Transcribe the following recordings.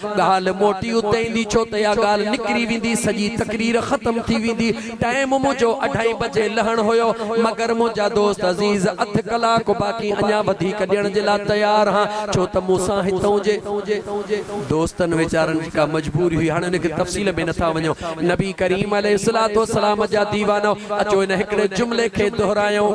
ڳالهه موٽي اتي ايندي ڇو ته اها ڳالهه نڪري ويندي سڄي تقرير ختم ٿي ويندي. ٽائيم منهنجو اڍائي بجي لهڻ هيو مگر منهنجا دوست عزيز اڌ ڪلاڪ باقي اڃا وڌيڪ ڏيڻ جي لاء تيار ها ڇو ته مون سان هتئون جي دوستن ويچارن جي ڪا مجبوري هئي هاڻ ان کي تفصيل ۾ نٿا وڃو نبي ڪريم عليه الصلوة والسلام جا ديوانو اچو ان هڪڙي جملي کي دهرايون.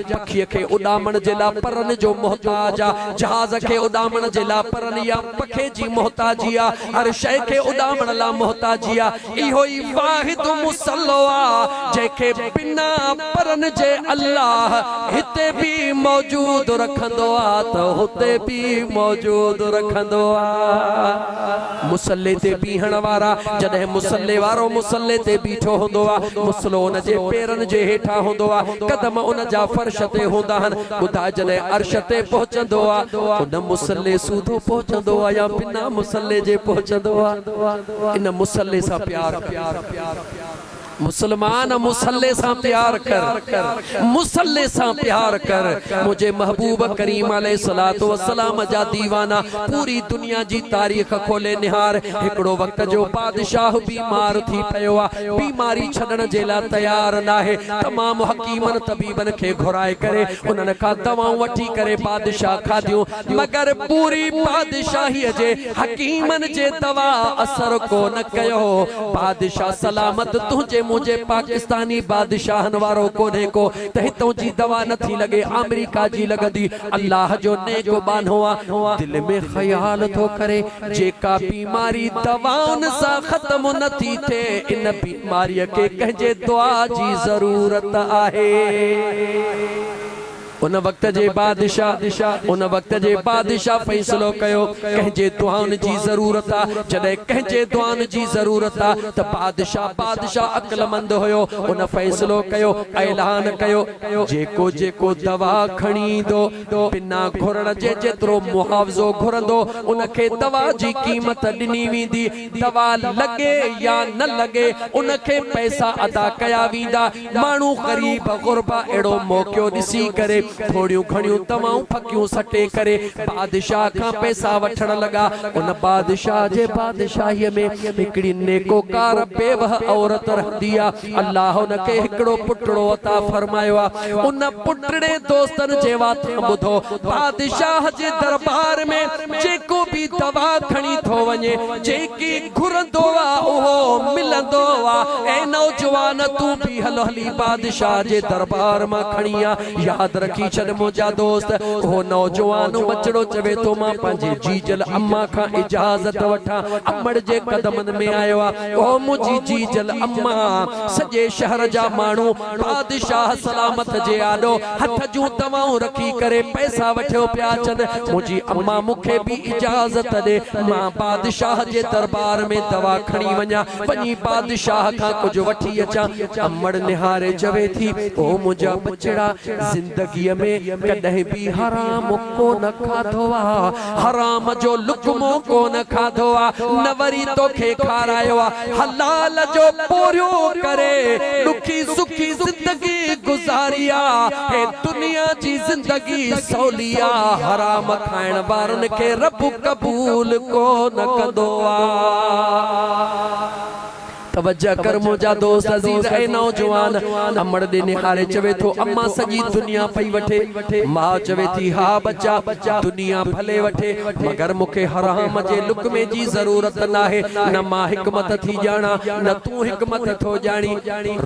جاکيء کي اڏامڻ جي لاء پرن جو محتاج آ، جهاز کي اڏامڻ جي لاء پرن يا پکي جي محتاجي آ، هر شيء کي اڏامڻ لاء محتاجي آ، اهو ئي واحد مصلحو آ، جنهن کي بنا پرن جي الله هتي به موجود رکندو آ ته هتي به موجود رکندو آ. مصلي تي بيهڻ وارا، جڏهن مصلي وارو مصلي تي بيٺو هوندو آ، مصلو ان جي پيرن جي هيٺان هوندو آ، قدم ان جا فرش تي هوندا آهن، ٻڌاء جڏهن عرش تي پهچندو آ، ان مصلي سوڌو پهچندو آ يا بنا مصلي جي پهچندو آ؟ ان مصلي سان پيار ڪر. مسلمان مصلي سان پيار ڪر مصلي سان پيار ڪر منهنجي محبوب ڪريم عليه الصلوة والسلام جا ديوانا پوري دنيا جي تاريخ کولي نهار هڪڙو وقت جو بادشاهه بيمار ٿي پيو آ بيماري ڇڏڻ جي لا تيار ناهي تمام حڪيمن طبيبن کي گهرائي ڪري انهن کان دوائون وٺي ڪري بادشاهه کاڌيون مگر پوري بادشاهيء جي حڪيمن جي دوا اثر ڪو نه ڪيو. بادشاهه سلامت تنهنجي منهنجي پاڪستاني بادشاهن وارو ڪونهي ڪو ته هتئون جي دوا نه ٿي لڳي آمريڪا جي لڳندي. الله جو نيڪ ٻانهو آ. دل ۾ خيال ٿو ڪري جيڪا بيماري دوائن سان ختم نه ٿي ٿئي ان بيماريء کي ڪنهن جي دعا جي ضرورت آهي. ان وقت جي بادشاهه ان وقت جي بادشاهه فيصلو ڪيو، ڪنهن جي دعائن جي ضرورت آ، جڏهن ڪنهن جي دعائن جي ضرورت آ ته بادشاهه بادشاهه عقلمند هيو، ان فيصلو ڪيو، اعلان ڪيو، جيڪو جيڪو دوا کڻي ايندو، بنا گهرڻ جي جيترو معاوضو گهرندو، ان کي دوا جي قيمت ڏني ويندي، دوا لڳي يا نه لڳي، ان کي پئسا ادا ڪيا ويندا، ماڻهو غريب غربا اهڙو موقعو ڏسي ڪري ٿوريون گهڻيون دوائون ڦڪيون سٽي ڪري بادشاهه کان پئسا وٺڻ لڳا. ان بادشاهه جي بادشاهيء ۾ هڪڙي نيڪوڪار بيوهه عورت رهندي آ. الله ان کي هڪڙو پٽڙو عطا فرمايو آ. ان پٽڙي دوستن جي واتان ٻڌو، بادشاهه جي درٻار ۾ جيڪو به دوا کڻي ٿو وڃي، جيڪي گهرندو آ اهو ملندو آ. اي نوجوان تون به هل هلي بادشاهه جي دربار مان کڻي آ. ياد رکي ڇڏ منهنجا دوست. اهو نوجوان ٻچڙو چوي ٿو مان پنهنجي جيجل اما کان اجازت وٺان. امڙ جي قدمن ۾ آيو آ. او منهنجي جيجل اما! سڄي شهر جا ماڻهو بادشاهه سلامت جي آڏو هٿ جون دوائون رکي ڪري پئسا وٺيو پيا اچن. منهنجي امان مون کي به اجازت ڏي مان بادشاهه جي دربار ۾ دوا کڻي وڃان. وڃي بادشاهه کان ڪجهه وٺي اچان. امڙ نهاري چوي ٿي، او منهنجا ٻچڙا! زندگيء ۾ ڪڏهن به حرام. ڪونه کاڌو آ حرام جو لقمو ڪونه کاڌو آ نه وري توکي کارايو آ حلال جو پورهيو ڪري ڏکي سکي زندگي گذاري آ هي دنيا جي زندگي سولي آ حرام کائڻ وارن کي رب قبول ڪونه ڪندو آ. توجه ڪر منهنجا دوست عزيز اي نوجوان امڙ ڏي نهاري چوي ٿو امان سڄي دنيا پئي وٺي ماء چوي ٿي ها ٻچا دنيا ڀلي وٺي مگر مون کي حرام جي لقمي جي ضرورت ناهي نه مان حڪمت ٿي ڄاڻا نه تون حڪمت ٿو ڄاڻي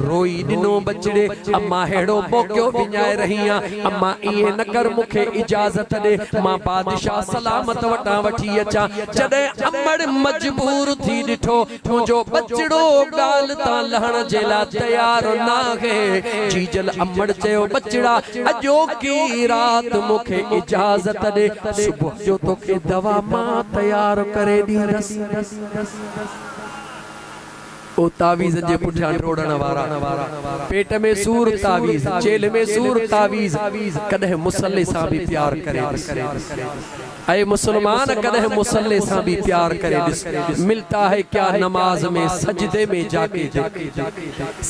روئي ڏنو ٻچڙي امان ههڙو ڀوڪيو وڃائي رهي آن امان ائين نه ڪر مون کي اجازت ڏي مان بادشاهه سلامت وٽان وٺي اچان جڏهن امڙ مجبور ٿي ڏٺو ڏٺو جو ٻچڙو ڳالهه تان لهڻ جي لاء تيار ناهي. جيجل امڙ چيو، ٻچڙا اڄوڪي رات مون کي اجازت ڏي، صبح جو توکي دوا مان تيار ڪري ڏيندس. او تعويذ جي پٺيان ڊوڙڻ وارا، پيٽ ۾ سور تعويذ، چيلهه ۾ سور تعويذ، ڪڏهن مصلي سان به پيار ڪري ڏس. اي مسلمان! ڪڏهن مصلي سان به پيار ڪري ڏس، ملتا هي ڪيا نماز مين سجدي مين جا ڪي ديک،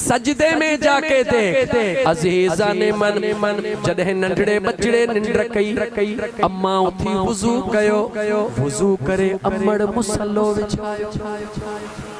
سجدي مين جا ڪي ديک، عزيزان من! جڏهن ننڍڙي ٻچڙي ننڊ ڪئي، اما اٿي وضو ڪيو، وضو ڪري امڙ مصلو وڇايو.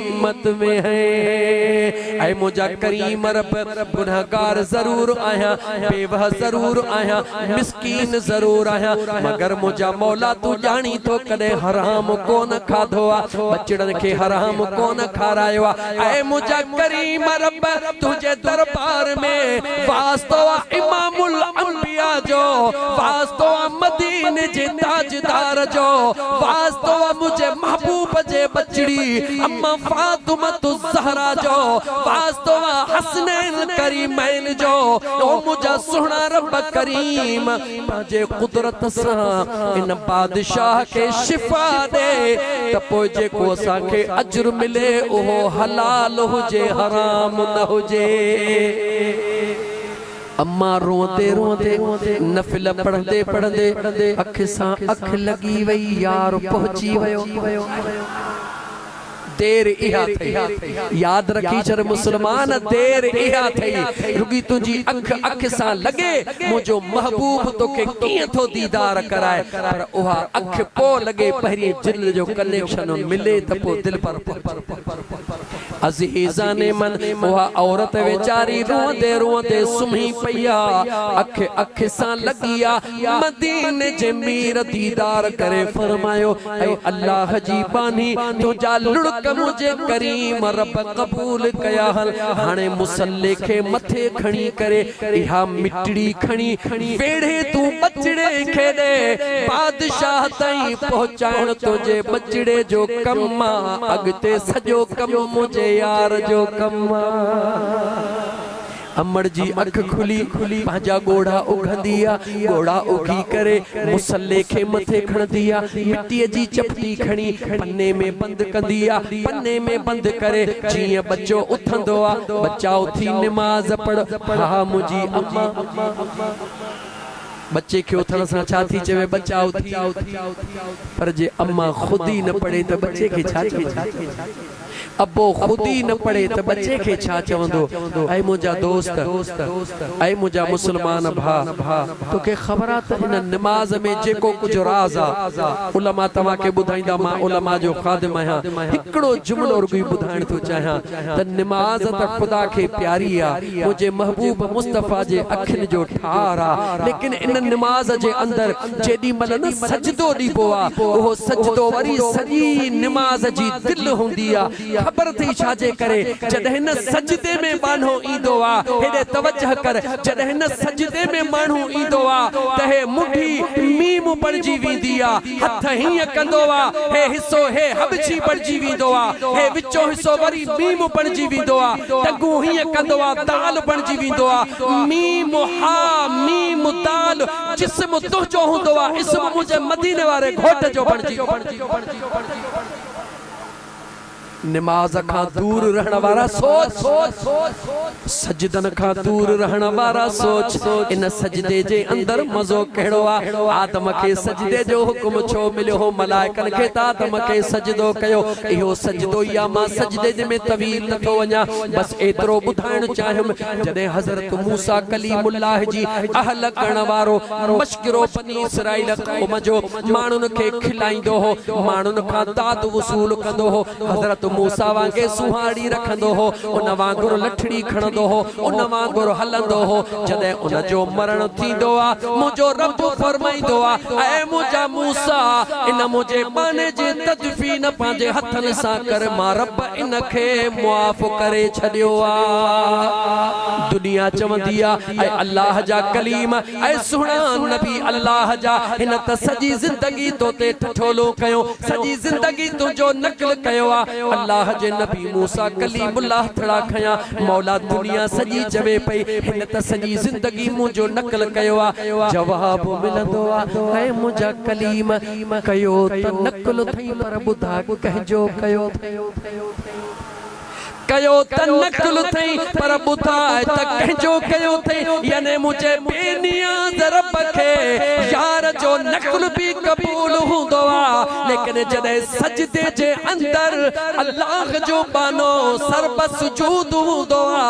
امت ۾ هي اي منهنجا ڪريم رب گنهگار ضرور آهيان بيوه ضرور آهيان مسڪين ضرور آهيان مگر منهنجا مولا تون ڄاڻين ٿو ڪڏهن حرام ڪون کاڌو آ ٻچڙن کي حرام ڪون کارايو آ اي منهنجا ڪريم رب تنهنجي دربار ۾ واسطو آ امام الانبياء جو واسطو آ مديني جي تاج ديدار جو واسطو آ منهنجي محبوب جي ٻچڙي ام فاطمة الزهرا جو واسطو آ حسنين ڪريمين جو او منهنجا سهڻا رب ڪريم پنهنجي قدرت سان ان بادشاهه کي شفا ڏي ته پوء جيڪو اسان کي اجر ملي اهو حلال هجي حرام نه هجي. اما روئندي روئندي نفل پڙهندي پڙهندي اک سان اک لڳي وئي يار پهچي ويو دير اها ٿئي ياد رکي ڇڏ مسلمان دير اها ٿئي رڳي تنهنجي اک اک سان لڳي منهنجو محبوب توکي ڪيئن ٿو ديدار ڪرائي پر اها اک پوء لڳي پهرين جن جو ڪنيڪشن ملي ته پوء دلبر پهچي عزيزان من، اها عورت ويچاري روئندي روئندي سمهي پئي آ، اک اک سان لڳي آ، مديني جي مير ديدار ڪري فرمايو، اي الله جي ٻانهي، تنهنجا لڙڪ منهنجي ڪريم رب قبول ڪيا، هل هاڻي مصلي کي مٿي کڻي ڪري، اها مٽڙي کڻي ويڙهي تون ٻچڙي کي ڏي، بادشاهه تائين پهچائڻ تنهنجي ٻچڙي جو ڪم آ. اڳتي سڄو ڪم منهنجي يار جو ڪم آ. امڙ جي اک کلي، پنهنجا ڳوڙها اگهندي آ. ڳوڙها اگهي ڪري مصلي کي مٿي کڻندي آ. مٽيء جي چپٽي کڻي پني ۾ بند ڪندي آ. پني ۾ بند ڪري جيئن ٻچو اٿندو آ. ٻچا اٿي نماز پڙهه، ها منهنجي امان. ٻچي کي اٿڻ سان ڇا ٿي چوي ٻچا اٿي پر جي اما خود ئي نه پڙهي ته ٻچي کي ڇا چوندي ابو خود ئي نه پڙهي ته ٻچي کي ڇا چوندو اي منهنجا دوست اي منهنجا مسلمان ڀا توکي خبر آ ته ان نماز ۾ جيڪو ڪجهه راز آ علماء توهان کي ٻڌائيندا مان علماء جو خادم آهيان هڪڙو جملو رڳوئي ٻڌائڻ ٿو چاهيان ته نماز ته خدا کي پياري آ، منهنجي محبوب مصطفيٰ جي اکين جو ٺار آ، ليڪن ان نماز جي اندر جيڏي مهل نه سجدو ڏبو آ، اهو سجدو وري سڄي نماز جي دل هوندي آ، خبر اٿئي ڇا جي ڪري؟ جڏهن نه سجدي ۾ ٻانهو ايندو آ، هيڏي توجه ڪر، جڏهن نه سجدي ۾ ٻانهو ايندو آ ته هي منڍي ميم بڻجي ويندي آ، هٿ هيئن ڪندو آ، هي حصو هي حبشي بڻجي ويندو آ، هي وچون حصو وري ميم بڻجي ويندو آ، ٽڳون هيئن ڪندو آ، دال بڻجي ويندو آ، ميم حا ميم دال، جسم تنهنجو هوندو آ، اسم منهنجي مديني واري گهوٽ جو بڻجي ويندو آ. نماز کان دور رهڻ وارا سوچ، سجدن کان دور رهڻ وارا سوچ، ان سجدي جي اندر مزو ڪهڙو آ؟ آدم کي سجدي جو حڪم ڇو مليو هو؟ ملائڪن کي ته آدم کي سجدو ڪيو، اهو سجدو ئي آ، مان سجدي جي ۾ طويل نه ٿو وڃان، بس ايترو ٻڌائڻ چاهيم، جڏهن حضرت موسيٰ ڪليم الله جي اهل ڪرڻ وارو مشڪرو بني اسرائيل قوم جو. ماڻهن کي کلائيندو هو، ماڻهن کان داد وصول ڪندو هو، حضرت موسيٰ وانگي سونهارڙي رکندو هو، ان وانگر لٺڙي کڻندو هو، ان وانگر هلندو هو، جڏهن ان جو مرڻ ٿيندو آ، منهنجو رب فرمائيندو آ، اي منهنجا موسيٰ! ان منهنجي ٻانهي جي تدفين پنهنجي هٿن سان ڪر، مان رب ان کي معاف ڪري ڇڏيو آ. دنيا چوندي آ، اي الله جا ڪليم! اي سهڻا نبي الله جا، هن ته سڄي زندگي تو تي ٺٺولو ڪيو، سڄي زندگي تنهنجو نقل ڪيو آ، الله جي نبي موسيٰ ڪليم الله ٿڙا کنيا، مولا دنيا سڄي چوي پئي، هن ته سڄي زندگي منهنجو نقل ڪيو آ، جواب ملندو آ، اي منهنجا ڪليم! ڪيو ته نقل اٿئي پر ٻڌاء ڪنهنجو ڪيو اٿئي؟ ڪيو ته نه قل اٿئي پر ٻڌاء ته ڪنهن جو ڪيو اٿئي يعني منهنجي بي نياز رب کي يار جو نقل به قبول هوندو آ ليڪن جڏهن سجدي جي اندر الله جو ٻانهو سر به سجود هوندو آ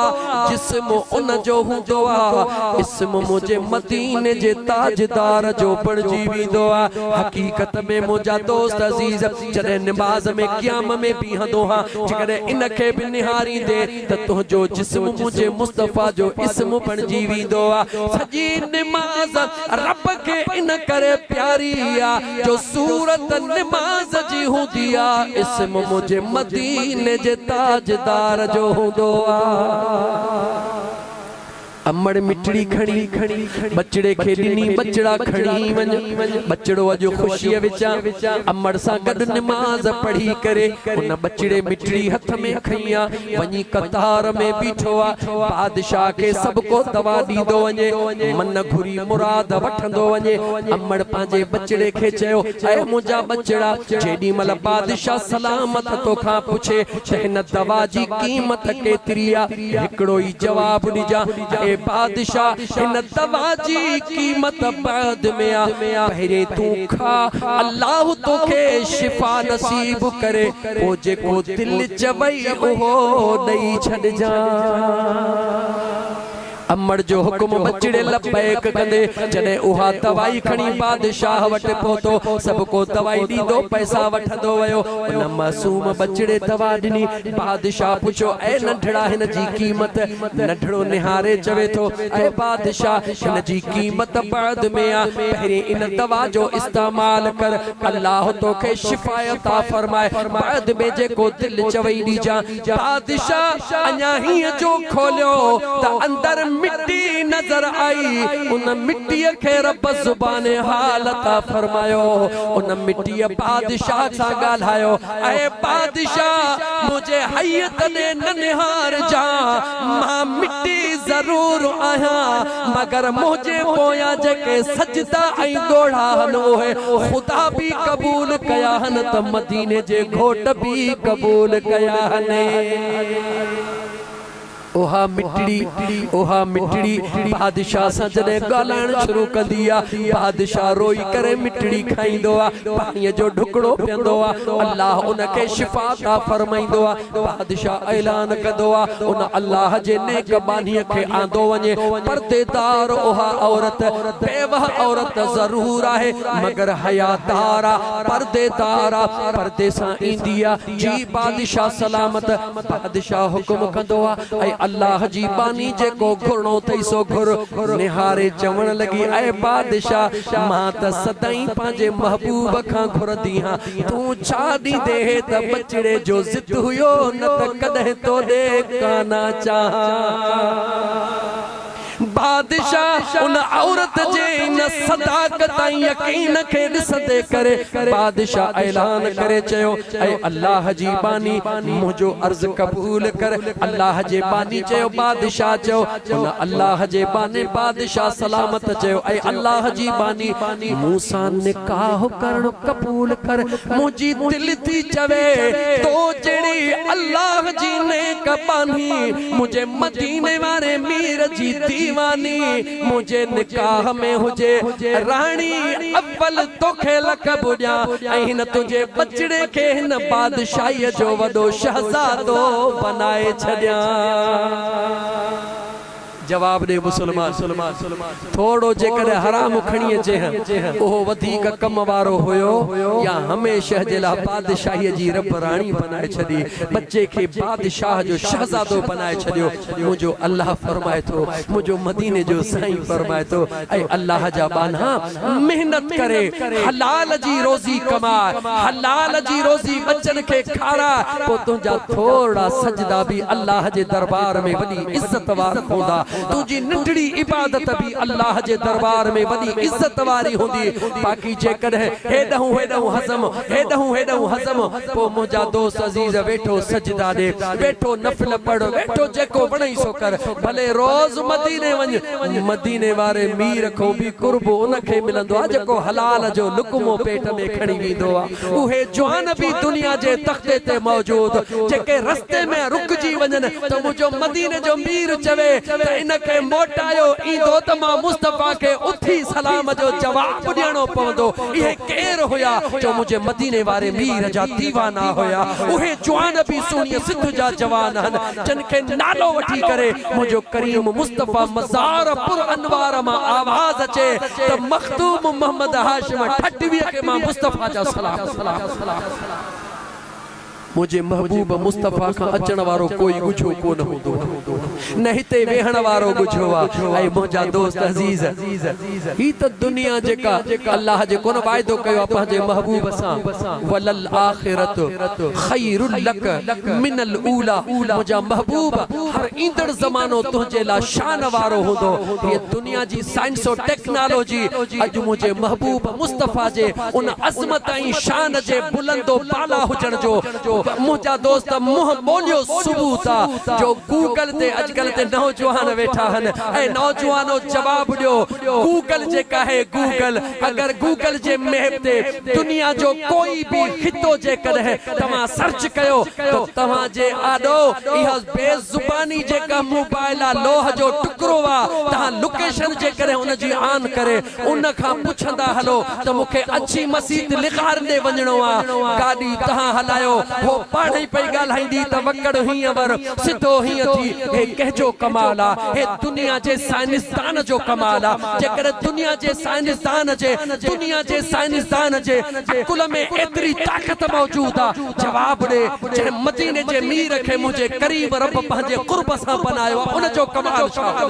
جسم ان جو هوندو آ اسم منهنجي مديني جي تاجدار جو بڻجي ويندو آ حقيقت ۾ منهنجا دوست عزيز جڏهن نماز ۾ قيام ۾ بيهندو هان، جيڪڏهن ان کي به نهاريندي ته تنهنجو جسم منهنجي مصطفيٰ جو اسم بڻجي ويندو آ. سڄي نماز رب کي ان ڪري پياري آ جو صورت نماز جي هوندي آ، اسم منهنجي مديني جي تاجدار جو هوندو آ. امڙ مٺڙي کڻي ٻچڙي کي ڏني ٻچڙا کڻي وڃ ٻچڙو اڄ خوشيء وچان امڙ سان گڏ نماز پڙهي ڪري ان ٻچڙي مٺڙي هٿ ۾ کنئي آ وڃي قطار ۾ بيٺو آ بادشاهه کي سڀ ڪو دوا ڏيندو وڃي من گهري مراد وٺندو وڃي امڙ پنهنجي ٻچڙي کي چيو اي منهنجا ٻچڙا جيڏي مهل بادشاهه سلامت توکان پڇي ته هن دوا جي قيمت ڪيتري آ هڪڙو ئي جواب ڏجان اي بادشاهه هن دوا جي قيمت بعد ۾ آ پهرين تون کاء الله توکي شفا نصيب ڪري پوء جيڪو دل چوئي اهو ڏئي ڇڏجان. امڙ جو حڪم بچڙي لبيڪ ڪندي جڏهن اها دوائي کڻي بادشاهه وٽ پهتو سڀڪو دوائي ڏيندو پئسا وٺندو ويو ان معصوم بچڙي دوا ڏني بادشاهه پڇيو، اي ننڍڙا هن جي قيمت؟ ننڍڙو نهاري چوي ٿو، اي بادشاهه هن جي قيمت بعد ۾ آ، پهرين ان دوا جو استعمال ڪر، الله توکي شفا عطا فرمائي، بعد ۾ جيڪو دل چوي ڏجان. بادشاهه اڃا هيء جو کوليو ته اندر مٽي نظر آئي، ان مٽيء کي رب زبان حال عطا فرمايو، ان مٽيء بادشاهه سان ڳالهايو، اي بادشاهه! منهنجي حيء تڏي نه نهارجان، مان مٽي ضرور آهيان، مگر منهنجي پويان جيڪي سجدا ۽ ڳوڙها هن اهي خدا به قبول ڪيا هن ته مديني جي گهوٽ به قبول ڪيا هن. اها مٽڙي، اها مٽڙي بادشاهه سان جڏهن ڳالهائڻ شروع ڪندي آ، بادشاهه روئي ڪري مٽڙي کائيندو آ، پاڻيء جو ڍڪڙو پيئندو آ، الله ان کي شفا عطا فرمائيندو آ. بادشاهه اعلان ڪندو آ، ان الله جي نيڪ ٻانهيء کي آندو وڃي. پرديدار اها عورت بيوهه عورت ضرور آهي، مگر حيادار آ، پرديدار آ، پردي سان ايندي آ، جي بادشاهه سلامت بادشاهه حڪم ڪندو آ اي الله جي باني جيڪو گهرڻو ٿئي سو گهر نهاري چوڻ لڳي اي بادشاهه مان ته سدائين پنهنجي محبوب کان گهرندي هان تون ڇا ڏيندي هي ته ٻچڙي جو ضد هيو نه ته ڪڏهن توڏي ڪانه چاهان. بادشاهه ان عورت جي ان صداقت ۽ يقين کي ڏسندي ڪري بادشاهه اعلان ڪري چيو، اي الله جي ٻانهي! منهنجو عرض قبول ڪر. الله جي ٻانهي چيو، بادشاهه چيو، ان الله جي ٻانهي بادشاهه سلامت چيو، اي الله جي ٻانهي! مون سان نڪاح ڪرڻ قبول ڪر. منهنجي دل ٿي چوي، تو جهڙي الله جي نيڪ ٻانهي منهنجي مديني واري مير جي ديواني منهنجي نڪاح ۾ هجي راڻي اول توکي لقب ڏيان ۽ هن تنهنجي ٻچڙي کي هن بادشاهي جو وڏو شهزادو بنائي ڇڏيان جواب ڏي مسلمان! ٿورڙو جيڪڏهن حرام کڻي اچي ها، اهو وڌيڪ ڪم وارو هيو، يا هميشه جي لاء بادشاهيء جي رب راڻي بنائي ڇڏي، ٻچي کي بادشاهه جو شهزادو بنائي ڇڏيو. منهنجو الله فرمائي ٿو، منهنجو مديني جو سائين فرمائي ٿو، اي الله جا ٻانها! محنت ڪري حلال جي روزي ڪماء، حلال جي روزي ٻچن کي کاراء، پوء تنهنجا ٿورڙا سجدا به الله جي دربار ۾ وڏي عزت وارا هوندا. تنهنجي ننڍڙي عبادت به الله جي دربار ۾ وڏي عزت واري هوندي، باقي جيڪڏهن هيڏهون هيڏهون هضم، هيڏهون هيڏهون هضم، پوء منهنجا دوست عزيز ويٺو سجدا ڏي، ويٺو نفل پڙهه، ويٺو جيڪو وڻئي سو ڪر، ڀلي روز مديني وڃ، مديني واري مير کان به قرب ان کي ملندو آهي جيڪو حلال جو لقمو پيٽ ۾ کڻي ويندو آهي. اهي جوان به دنيا جي تختي تي موجود جيڪي رستي ۾ رڪجي وڃن ته منهنجو مديني جو مير چوي ته ان کي موٽايو ايندو ته مان مصطفيٰ کي اٿي سلام جو جواب ڏيڻو پوندو اهي ڪير هيا جو منهنجي مديني واري مير جا ديوانا هيا اهي جوان به سهڻي سڌ جا جوان هن جن کي نالو وٺي ڪري منهنجو ڪريم مصطفيٰ مزار پر انوار مان آواز اچي ته مخدوم محمد هاشم ٺٽويء کي مان مصطفيٰ جا سلام ڪندس. منهنجي محبوب مصطفيٰ کان اچڻ وارو ڪوئي ڳجهو ڪونه هوندو آهي. نه هتي ويهڻ وارو ڳجهو آهي. اي منهنجا دوست عزيز! هي ته دنيا جيڪا الله جي ڪونه واعدو ڪيو آهي پنهنجي محبوب سان، وللآخرة خير لڪ من الأولٰي، منهنجا محبوب! هر ايندڙ زمانو تنهنجي لاء شان وارو هوندو. هيء دنيا جي سائنس و ٽيڪنالاجي اڄ منهنجي محبوب مصطفيٰ جي ان عظمت ۽ شان جي بلند و بالا هجڻ جو منهنجا دوست منهن ٻوليو ثبوت آ جو گوگل تي اڄڪلهه تي نوجوان ويٺا هن ۽ نوجوانو جواب ڏيو گوگل جيڪا هي گوگل اگر گوگل جي ميپ تي دنيا جو ڪوئي به خطو جيڪڏهن توهان سرچ ڪيو ته توهان جي آڏو اها بي زباني جيڪا مون بايلا لوهه جو ٽڪرو آ تهان لوڪيشن جيڪڏهن ان جي آن ڪري ان کان پڇندا هلو ته مون کي اڇي مسيت لغار ڏي وڃڻو آ گاڏي تهان هلايو هو پاڻهئي پئي ڳالهائيندي ته وڪڙ هينئر سڌو هيئن ٿي هي ڪنهنجو ڪمال آ؟ هي دنيا جي سائنسدان جو ڪمال آ. جيڪڏهن دنيا جي سائنسدان جي دنيا جي سائنسدان جي عقل ۾ ايتري طاقت موجود آ، جواب ڏي، جنهن مديني جي مير کي منهنجي ڪريم رب پنهنجي قرب سان بنايو آ، ان جو ڪمال ڇا هو؟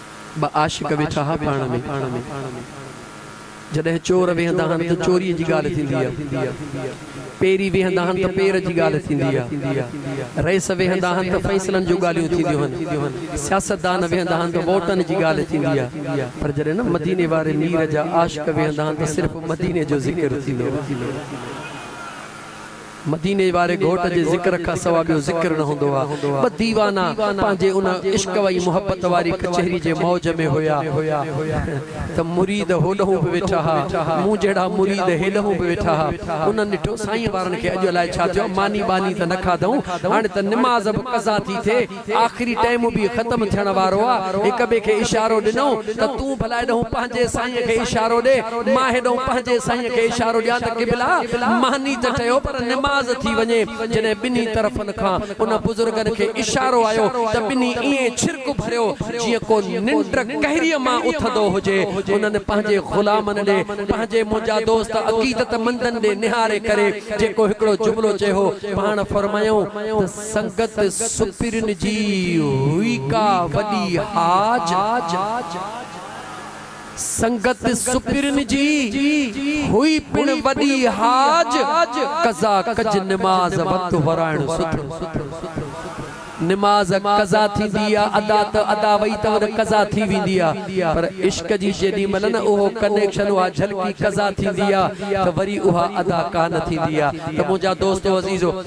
ٻه عاشق ويٺا ها پاڻ ۾، جڏهن چور ويهندا آهن ته چوريء جي ڳالهه ٿيندي آهي، پيري ويهندا آهن ته پير جي ڳالهه ٿيندي آهي، رئيس ويهندا آهن ته فيصلن جون ڳالهيون ٿينديون آهن، سياستدان ويهندا آهن ته ووٽن جي ڳالهه ٿيندي آهي، پر جڏهن نه مديني واري مير جا عاشق ويهندا آهن ته صرف مديني جو ذڪر ٿيندو آهي. مديني واري گهوٽ جي ذڪر کان سوا ٻيو ذڪر نه هوندو آ. ٻه ديوانا پنهنجي ان عشق وئي محبت واري ڪچهري جي موج ۾ هيا ته مريد هوڏهون به ويٺا ها. مون جهڙا مريد هيڏهون به ويٺا ها. انهن ڏٺو سائين وارن کي اڄ الائي ڇا ٿيو آ. ماني ٻاني ته نه کاڌئون. هاڻي ته نماز به قضا ٿي ٿئي. آخري ٽيم به ختم ٿيڻ وارو آ، هڪ ٻئي کي اشارو ڏنئون ته تون ڀلا هيڏهون پنهنجي سائينء کي اشارو ڏي، مان هيڏهون پنهنجي سائينء کي اشارو ڏيان ته قبلا! ماني ته چيو پر نماز ٿي وڃي. جڏهن ٻنهي طرفن کان ان بزرگن کي اشارو آيو ته ٻنهي ائين ڇرڪ ڀريو جيئن ڪو ننڊ ڪهريء مان اٿندو هجي. انهن پنهنجي غلامن ڏي، پنهنجي منهنجا دوست عقيدتمندن ڏي نهاري ڪري جيڪو هڪڙو جملو چيو هو، پاڻ فرمايائون ته. سنگت سپرين جي هئي ڪا وڏي حاج سنگت سپرين جي هئي پڻ وڏي حاج قضا ڪج نماز وقت ورائڻ سٿو نماز قضا ٿيندي آ ادا ته ادا وئي ته ان قضا ٿي ويندي آ پر عشق جي جيڏي مهل نه اهو ڪنيڪشن اها جهلڪي قضا ٿيندي آ ته وري اها ادا ڪانه ٿيندي آ ته منهنجا دوستو عزيزو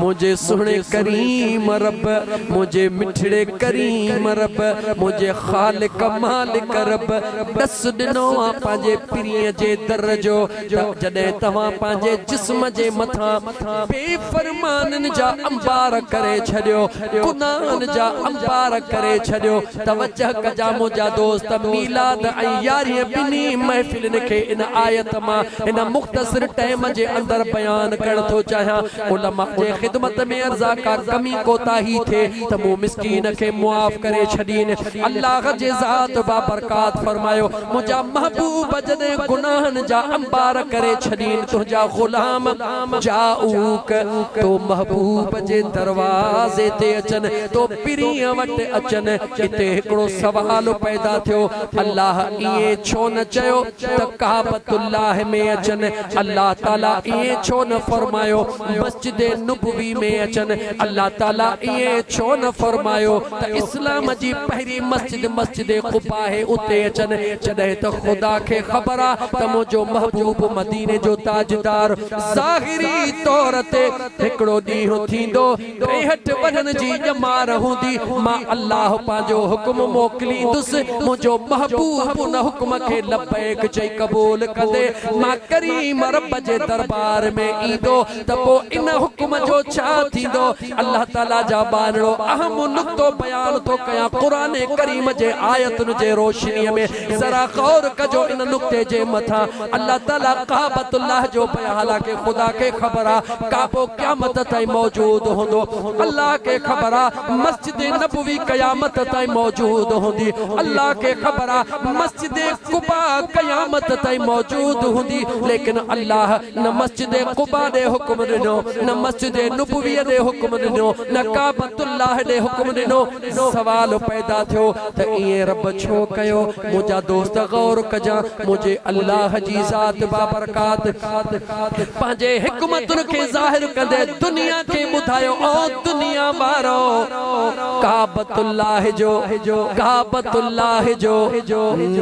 منهنجي سهڻي ڪريم رب منهنجي مٺڙي ڪريم رب منهنجي خالق مالڪ رب ڏس ڏنو آ پنهنجي پرينء جي در جو ته جڏهن توهان پنهنجي جسم جي مٿان بي فرمانين جا انبار ڪري ڇڏيو گناهن جا انبار ڪري ڇڏيو توجه ڪجان منهنجا دوست، ميلاد ۽ يارهين ٻنهي محفلن کي ان آيت مان هن مختصر ٽئم جي اندر بيان ڪرڻ ٿو چاهيان. علماء جي خدمت ۾ ارزا ڪا ڪمي ڪوتاهي ٿئي ته مون مسڪين کي معاف ڪري ڇڏين. الله جي ذات بابرڪات فرمايو، منهنجا محبوب جڏهن گناهن جا انبار ڪري ڇڏين تنهنجا غلام، جاؤڪ تو محبوب جي دروازي تي اچن تو پرينء وٽ اچن اتي هڪڙو سوال پيدا ٿيو الله ائين ڇو نه چيو ته ڪعبت الله ۾ اچن الله تعالي ائين ڇو نه فرمايو مسجد نبوي ۾ اچن الله تعالي ائين ڇو نه فرمايو ته اسلام جي پهرين مسجد مسجد قباء آهي اتي اچن جڏهن ته خدا کي خبر آ ته منهنجو محبوب مديني جو تاجدار ظاهري طور تي هڪڙو ڏينهن ٿيندو ڏيهٽ وڃڻ جي ڄمار هوندي مان الله پنهنجو حڪم موڪليندس منهنجو محبوب ان حڪم کي لبيڪ چئي قبول ڪندي مان ڪريم رب جي دربار ۾ ايندو ته پوء ان حڪم جو ڇا ٿيندو الله تعالي جا ٻانهڙو اهم نقطو بيان ٿو ڪيان قرآن ڪريم جي آيتن جي روشني ۾ ذرا غور ڪجو ان نقطي جي مٿان الله تعالي ڪعبت الله جو بيان حالانڪه خدا کي خبر آ ڪعبو قيامت تائين موجود هوندو الله کي خبر آ مسجد نبوي قيامت تائين موجود هوندي الله کي خبر آ مسجد قباء قيامت تائين موجود هوندي ليڪن الله نه مسجد قباء ڏي حڪم ڏنو، نه مسجد نبويء ڏي حڪم ڏنو، نه ڪعبة الله ڏي حڪم ڏنو. سوال پيدا ٿيو ته ائين رب ڇو ڪيو؟ منهنجا دوست غور ڪجان، منهنجي الله جي ذات بابرڪات پنهنجي حڪمتن کي ظاهر ڪندي دنيا کي ٻڌايو، او دنيا وارؤ! ڪعبة الله جو، ڪعبة الله جو،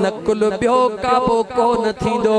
نقل ٻيو ڪعبو ڪو نه ٿيندو.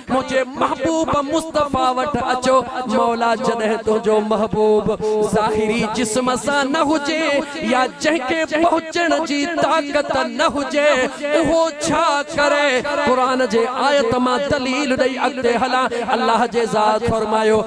منهنجي محبوب مصطفيٰ وٽ اچو، مولا جڏهن تنهنجو محبوب ظاهري جسم سان نه هجي يا جنهن کي پهچڻ جي طاقت نه هجي اهو ڇا ڪري؟ قرآن جي آيت مان دليل ڏئي اڳتي هلان، الله جي ذات فرمايو.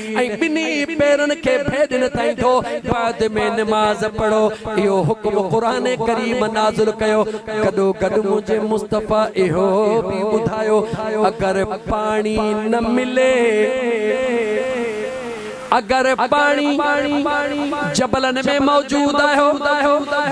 ۽ ٻنهي پيرن کي ڀيڏ نه ٿائيندو، بعد ۾ نماز پڙهو، اهو حڪم قرآن ڪريم نازل ڪيو، گڏو گڏ منهنجي مصطفيٰ اهو به ٻڌايو، اگر پاڻي نه ملي، اگر پاڻي جبلن ۾ موجود آهيو،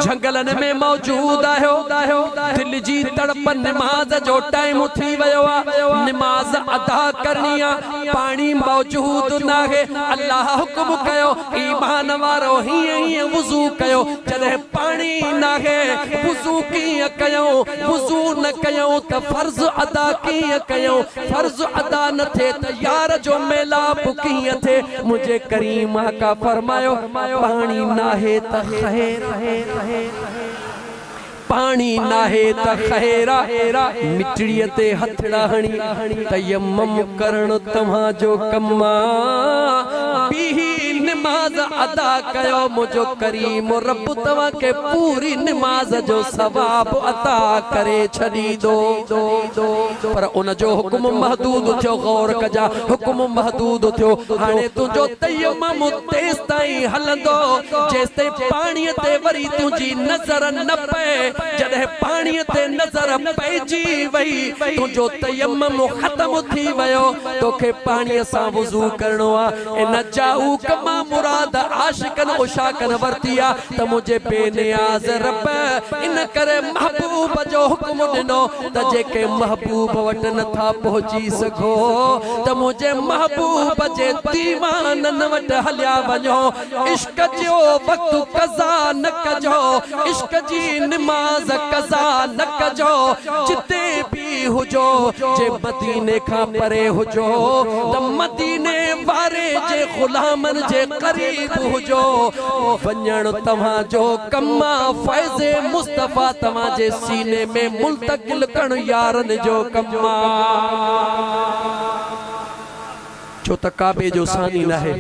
جهنگلن ۾ موجود آهيو، دل جي تڙپ نماز جو ٽائيم ٿي ويو آهي، نماز ادا ڪرڻي آهي. پاڻي موجود ناهي الله حڪم ڪيو ايمان وارو هيئن هيئن وضو ڪيو جڏهن پاڻي ناهي وضو ڪيئن ڪيون وضو نه ڪيون ته فرض ادا ڪيئن ڪيون فرض ادا نه ٿئي ته يار جو ميلاپ ڪيئن ٿئي منهنجي ڪريم آقا فرمايو پاڻي ناهي ته خير پاڻي ناهي ته خير آ، مٽڙيء تي هٿڙا هڻي تيمم ڪرڻ توهان جو ڪم آ. بيهي نماز ادا ڪيو، منهنجو ڪريم رب توهان کي پوري نماز جو ثواب عطا ڪري ڇڏيندو. پر ان جو حڪم محدود ٿيو، غور ڪجان، حڪم محدود ٿيو، هاڻي تنهنجو تيمم تيستائين هلندو، جيستائين پاڻيء تي وري تنهنجي نظر نه پئي، جڏهن پاڻيء تي نظر پئجي وئي، تنهنجو تيمم ختم ٿي ويو، توکي پاڻيء سان وضو ڪرڻو آ، ان چاهوڪ مان مراد عاشقن عشاقن ورتي آ ته منهنجي بي نياز رب ان ڪري محبوب جو حڪم ڏنو ته جيڪي محبوب وٽ نه ٿا پهچي سگهو ته منهنجي محبوب جي ديوانن وٽ هليا وڃو. عشق جو وقت قضا نه ڪجو عشق جي نماز قضا نه ڪجو جتي به هجو جي مديني کان پري هجو ته مديني واري جي غلامن جي قريب هجو وڃڻ توهان جو ڪم آ فيض مصطفيٰ توهان جي سيني ۾ ملتقل ڪرڻ يارن جو ڪم آ. ڇو ته ڪعبي جو ثاني ناهي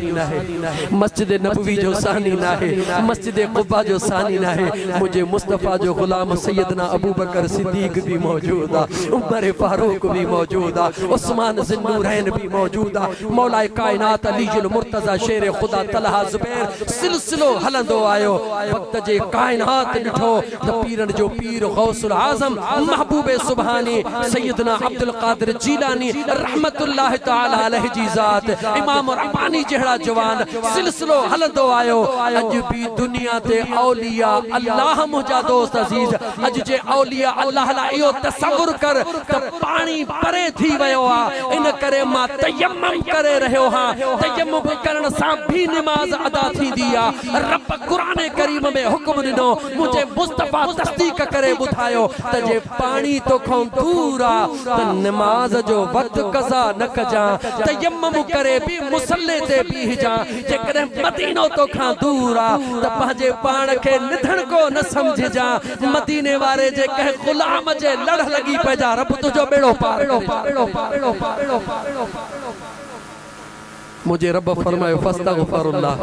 مسجد نبوي جو ثاني ناهي مسجد قباء جو ثاني ناهي منهنجي مصطفيٰ جو غلام سيدنا ابوبڪر صديق به موجود آهي عمر فاروق به موجود آهي عثمان ذي النورين به موجود آهي مولائي ڪائنات علي المرتضيٰ شير خدا طلحه زبير سلسلو هلندو آيو وقت جي ڪائنات ڏٺو ته پيرن جو پير غوث الاعظم محبوب سبحاني سيدنا عبدالقادر جيلاني رحمة الله تعالي عليه جي ذات امام رباني جهڙا جوان سلسلو هلندو آيو اڄ به دنيا تي اولياء الله منهنجا دوست عزيز اڄ جي اولياء الله لاء اهو تصور ڪر ته پاڻي پري ٿي ويو آ ان ڪري مان تيمم ڪري رهيو هان تيمم ڪرڻ سان به نماز ادا ٿيندي آ رب قرآن ڪريم ۾ حڪم ڏنو، منهنجي مصطفيٰ تصديق ڪري ٻڌايو ته جي پاڻي توکان دور آ ته نماز جو وقت قضا نه ڪجان، تيمم ڪري به مصلي تي بيهجان، جيڪڏهن مدينو توکان دور آ ته پنهنجي پاڻ کي نڌڻڪو نه سمجهجان، مديني واري جي ڪنهن غلام جي لڙهه لڳي پئجان، رب تنهنجو ٻيڙو پار ڪري. منهنجي رب فرمايو، فاستغفر الله،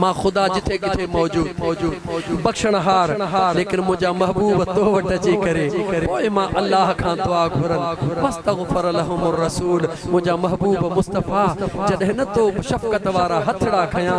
مان خدا جتي ڪٿي موجود، بخشڻهار، ليڪن منهنجا محبوب تو وٽ اچي ڪري پوء مان الله کان دعا گهرن، فاستغفر لهم الرسول، منهنجا محبوب مصطفيٰ جڏهن نه تو شفقت وارا هٿڙا کنيا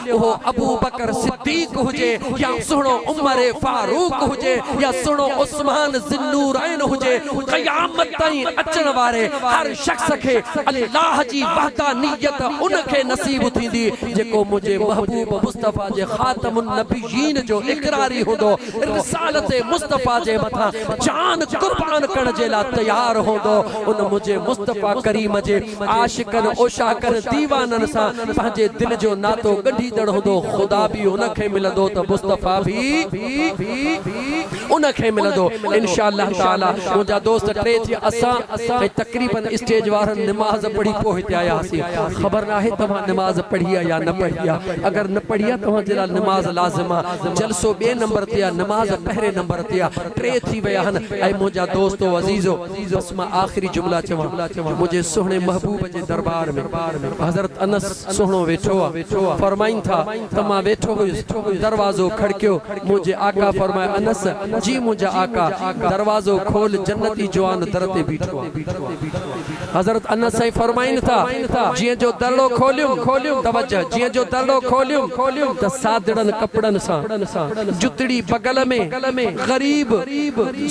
اهو ابوبڪر صديق هجي يا سهڻو عمر فاروق هجي يا سهڻو عثمان ذوالنورين هجي، قيامت تائين اچڻ واري هر شخص کي الله جي وحدانيت ان کي نصيب ٿيندي جيڪو منهنجي محبوب مصطفيٰ جي خاتم النبيين جو اقراري هوندو، رسالت مصطفيٰ جي مٿان جان قربان ڪرڻ جي لاء تيار هوندو، ان منهنجي مصطفيٰ ڪريم جي عاشقن عشاقن ديوانن سان پنهنجي دل جو ناتو ڳنڍيندڙ هوندو خدا به ان کي ملندو ته مصطفيٰ به ان کي ملندو انشاء الله تعالٰي منهنجا دوست ٽي ٿي اسان ۽ تقريبن اسٽيج وارن نماز پڙهي پوء هتي آيا هئاسين خبر ناهي توهان نماز پڙهي آ يا نه پڙهي آ اگر نه پڙهي آ توهان جي لاء نماز لازم آ جلسو ٻئي نمبر تي آ نماز پهرين نمبر تي آ ٽي ٿي ويا آهن اي منهنجا دوستو عزيزو بس مان آخري جملا چوان جو منهنجي سهڻي محبوب جي درٻار ۾ حضرت انس سهڻو ويٺو آ، فرمائن ٿا ته مان ويٺو هيس، دروازو کڙڪيو، منهنجي آقا فرمايو انس! جي منهنجا آقا! دروازو کول جنتي جوان در تي بيٺو آ. حضرت انس سائين فرمائن ٿا جيئن جو درڙو کوليم، توجه، جيئن جو درڙو کوليم ته سادڙن ڪپڙن سان جتڙي بغل ۾، ڪل ۾ غريب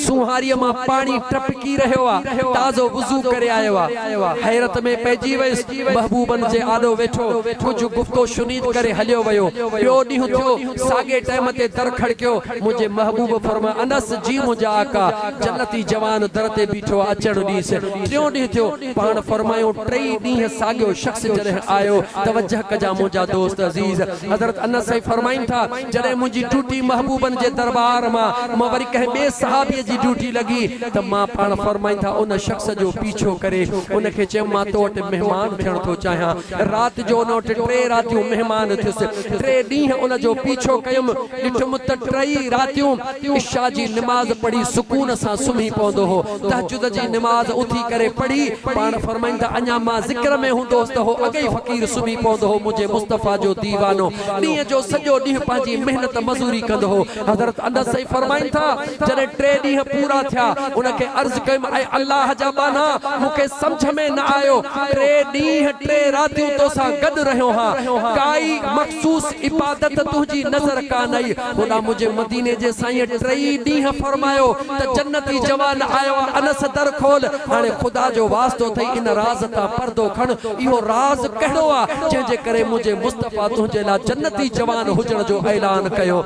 سونهاريء مان پاڻي ٽپڪي رهيو آ، تازو وضو ڪري آيو آ. حيرت ۾ پئجي ويس، محبوبن جي آڏو ويٺو، ڪجهه گفت و شنيد ڪري هليو ويو. ٻيو ڏينهن ٿيو، ساڳئي ٽئم تي در کڙڪيو، منهنجي محبوب فرمايو، انس، جي منهنجا آقا، جنتي جوان در تي بيٺو آ، اچڻ ڏيس. ٽيون ڏينهن ٿيو، پاڻ فرمايو، ٽئي ڏينهن ساڳيو شخص جڏهن آيو، توجه ڪجان منهنجا دوست عزيز، حضرت انس سائين فرمائين ٿا، جڏهن منهنجي ڊيوٽي محبوبن جي درٻار مان مان وري ڪنهن ٻئي صحابيء جي ڊيوٽي لڳي ته مان پاڻ فرمائيندا ان شخص جو پيڇو ڪري ان کي چيم مان تو وٽ مهمان ٿيڻ ٿو چاهيان رات جو ان وٽ ٽي راتيون مهمان ٿيس ٽي ڏينهن ان جو پيڇو ڪيم ڏٺم ته ٽئي راتيون عشاء جي نماز پڙهي سڪون سان سمهي پوندو هو تهجد جي نماز اٿي ڪري پڙهي پاڻ فرمائيندا اڃا مان ذڪر ۾ هوندو هوس ته هو اڳئي فقير سمهي پوندو هو منهنجي مصطفيٰ جو ديوانو ڏينهن جو سڄو ڏينهن پنهنجي محنت مزوري ڪندو هو. حضرت انس سائين فرمائن ٿا، جڏهن ٽي ڏينهن پورا ٿيا، ان کي عرض ڪيم اي الله جا ٻانها! مون کي سمجهه ۾ نه آيو، ٽي ڏينهن ٽي راتيون تو سان گڏ رهيو هان، ڪائي مخصوص عبادت تنهنجي نظر ڪانه آئي، هوڏانهن منهنجي مديني جي سائينء ٽئي ڏينهن فرمايو، ته جنتي جوان آيو آ انس در کول هاڻي خدا جو واسطو اٿئي ان راز تان پردو کڻ اهو راز ڪهڙو آ جنهن جي ڪري منهنجي مصطفيٰ تنهنجي لا جنتي جوان هجڻ جو اعلان ڪيو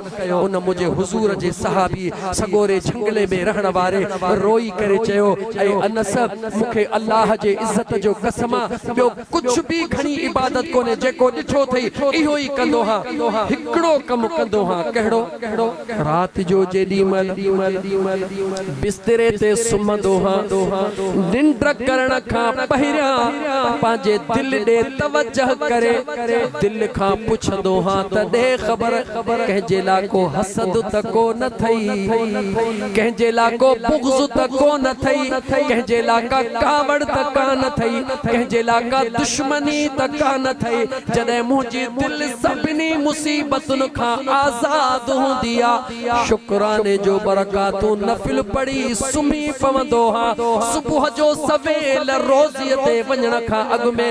ان منهنجي حضور جي صحابي سڳوري جهنگلي ۾ رهڻ واري روئي ڪري چيو اي انس مون کي الله جي عزت جو قسم آ ٻيو ڪجهه به گهڻي عبادت ڪونهي جيڪو ڏٺو اٿئي اهو ئي ڪندو هان هڪڙو ڪم ڪندو هان ڪهڙو رات جو جيڏي مهل بستري تي سمهندو هان ننڊ ڪرڻ کان پهريان پنهنجي دل ڏي توجه ڪري دل کان پڇندو هان ته ڏي خبر ڪنهن جي لاء ڪو حسد ته ڪو نه اٿئي. ڪنهن جي لا ڪو بغض ته ڪو نه اٿئي، ڪنهن جي لا ڪا ڪاوڙ ته ڪا نه اٿئي، ڪنهن جي لا ڪا دشمني ته ڪا نه اٿئي، جڏهن منهنجي دل سڀني مصيبتن کان آزاد هوندي ها، شڪراني جو برڪاتون نفل پڙهي سمهي پوندو ها، صبح جو سويل روضي تي وڃڻ کان اڳ ۾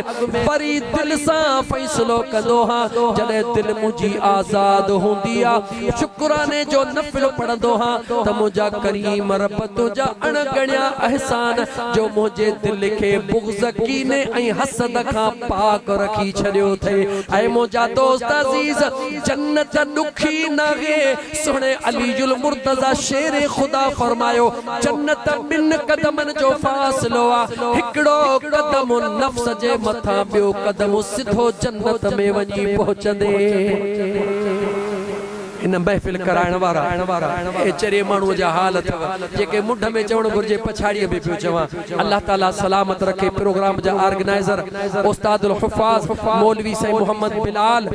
وري دل سان فيصلو ڪندو ها، جڏهن دل منهنجي آزاد هوندي ها، شڪراني جو نفل پڙهندو هان ته منهنجا ڪريم رب تنهنجا اڻ ڳڻيا احسان جو منهنجي دل کي بغض ڪيني ۽ حسد کان پاڪ رکي ڇڏيو اٿئي اي منهنجا دوست عزيز جنت ڏکي ناهي سهڻي علي المرتضيٰ شير خدا فرمايو جنت ٻن قدمن جو فاصلو آ، هڪڙو قدم نفس جي مٿان ٻيو قدم سڌو جنت ۾ وڃي پهچندي. هن محفل ڪرائڻ وارا اهي چري ماڻهو جا حال اٿئو جيڪي منڍ ۾ چوڻ گهرجي پڇاڙيء ۾ پيو چوان. الله تعالي سلامت رکي پروگرام جا آرگنائزر استاد الحفاظ مولوي سائين محمد بلال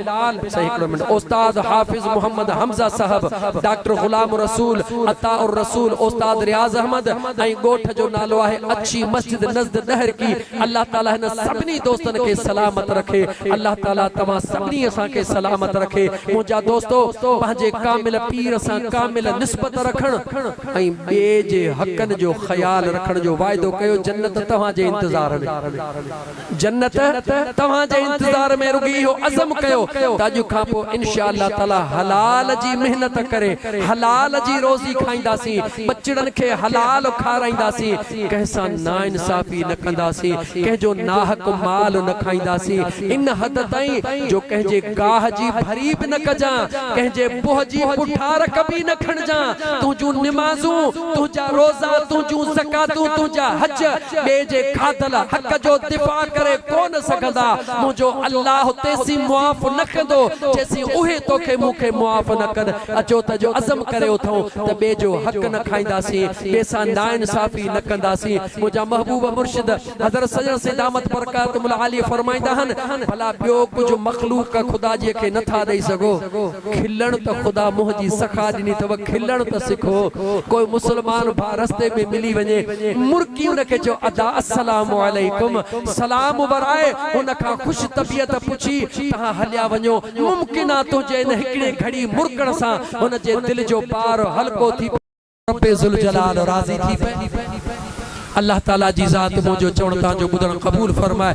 سائين هڪڙو منٽ استاد حافظ محمد حمزه صاحب ڊاڪٽر غلام الرسول عطاء الرسول استاد رياض احمد ۽ ڳوٺ جو نالو آهي اڇي مسجد نزد ڏهرڪي الله تعالي هن سڀني دوستن کي سلامت رکي الله تعالي توهان سڀني اسان کي سلامت رکي منهنجا دوستو پنهنجي ڪامل پير سان ڪامل نسبت رکڻ ۽ ٻئي جي حقن جو خيال رکڻ جو وعدو ڪيو جنت توهان جي انتظار ۾ جنت توهان جي انتظار ۾ رڳي اهو عزم ڪيو ته اڄ کان پوء انشاء الله تعالي حلال جي محنت ڪري حلال جي روزي کائينداسين ٻچڙن کي حلال کارائينداسين ڪنهن سان ناانصافي نه ڪنداسين، ڪنهن جو ناحق مال نه کائينداسين، ان حد تائين جو ڪنهن جي گاهه جي ڀري به نه ڪجان، ڪنهن جي بوهه جي پٺار ڪبي نه کڻجان، تنهنجون نمازون، تنهنجا روزا، تنهنجون زڪواتون، تنهنجا حج، ٻئي جي کاڌل حق جو دفاع ڪري ڪو نه سگهندا، منهنجو الله تيسين معاف نه ڪندو، جيسين اهي توکي مون کي معاف نه ڪن. اچو ته جو عزم ڪري اٿئون ته ٻئي جو حق نه کائينداسين، ٻئي سان ناانصافي نه ڪنداسين. منهنجا محبوب مرشد حضرت سڄڻ سيد دامت برڪاتهم العاليه فرمائيندا آهن، ڀلا ٻيو ڪجهه مخلوق خدا جي کي نه ٿا ڏئي سگهو؟ کلڻ ته خدا منهن جي سخا ڏني اٿو کلڻ ته سکو. ڪو مسلمان ڀاء رستي ۾ ملي وڃي مرڪي ان کي چئو ادا السلام عليڪم سلام ورائي ان کان خوش طبيعت پڇي تهان هليا وڃو ممڪن آ تنهنجي ان هڪڙي گهڙي مرڪڻ سان هن جي دل جو بار هلڪو ٿي پئي. رب ذوالجلال راضي ٿي پئي. الله تعاليٰ جي ذات منهنجو چوڻ تانجو ٻڌڻ قبول فرمائي.